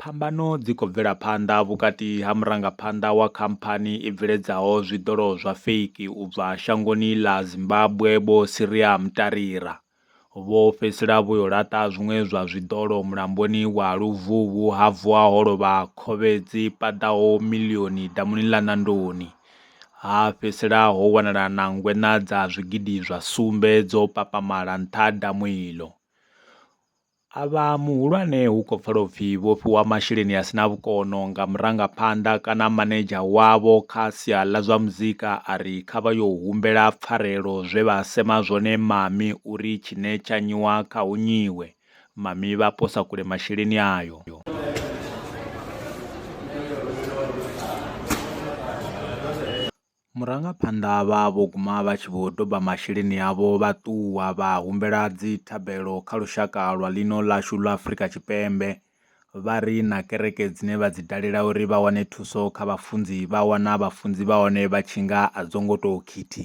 Phambano dzi khou bvela phanḓa vhukati ha murangaphanḓa wa khamphani i bveledzaho zwiḓolo zwa feiki u bva shangoni ḽa Zimbabwe Vho Siria Mtarira, vho fhedzisela vho yo laṱa zwiṅwe zwa zwiḓolo mulamboni wa Luvhuvhu ha vuwa ho lovha khovhe dzi paḓaho miḽioni damuni ḽa Nandoni, ha fhedzisela ho wanala na ngweṋa dza zwigidi zwa sumbe dzo papamala nṱha ha damu iḽo. A vha muhulwane hu khou pfala upfi vho fhiwa masheleni a sina vhukono nga murangaphanḓa kana manedzha wavho kha sia ḽa zwa muzika a ri kha vha yo humbela pfarelo zwe vha sema zwone mami uri tshine tsha nyiwa kha hu nyiwe. Mami vha posa kule masheleni ayo. Murangaphanḓa vha vho guma vha tshi vho doba masheleni avho vha ṱuwa vha humbela dzi thabelo kha lushaka lwa ḽino ḽashu ḽa Afrika Tshipembe, vha ri na kereke dzine vha dzi dalela uri vha wane thuso kha vhafunzi vha wana vhafunzi vha hone vha tshi nga a dzo ngo tou khithi.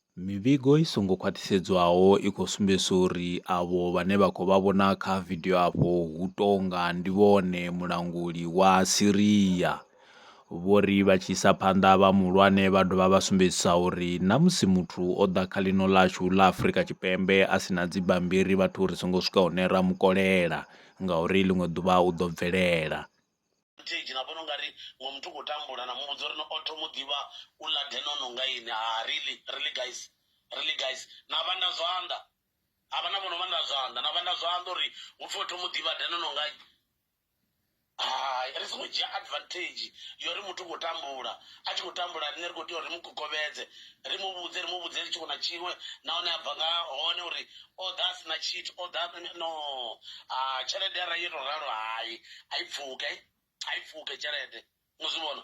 Mivhigo i songo khwaṱhisedzwaho i khou sumbedzisa uri avho vhane vha khou vha vhona kha vidio afho hu tou nga ndi vhone mulanguli wa Syria. Vho ri vha tshi isa phanḓa vha muhulwane vha dovha vha sumbedzisa uri na musi muthu o ḓa kha ḽino ḽashu ḽa Afrika Tshipembe a si na dzibammbiri vhathu ri songo swika hune ra mu kolela ngauri ḽiṅwe ḓuvha u ḓo bvelela. stage na vhona ungari ngo muthu khou tambula na muvhudza uri no o thoma u ḓivha u ḽa denono nga ini ha really really guys really guys na vhanda zwanḓa ha vha na vhono vhanda zwanḓa na vhanda zwanḓa uri hu pfhi o thoma u ḓivha denono nga hai ri songo dzhia advantage yori muthu khou tambula a tshi khou tambula riṋe ri khou tea uri ri mu gogovhedze ri mu vhudze ri mu vhudze tshiṅwe na tshiṅwe nahone a bva nga hone uri o ḓa a si na tshithu o ḓa no a tshelede arali yo tou ralo hai a i pfuke a i pfuke tshelede mu zwi vhona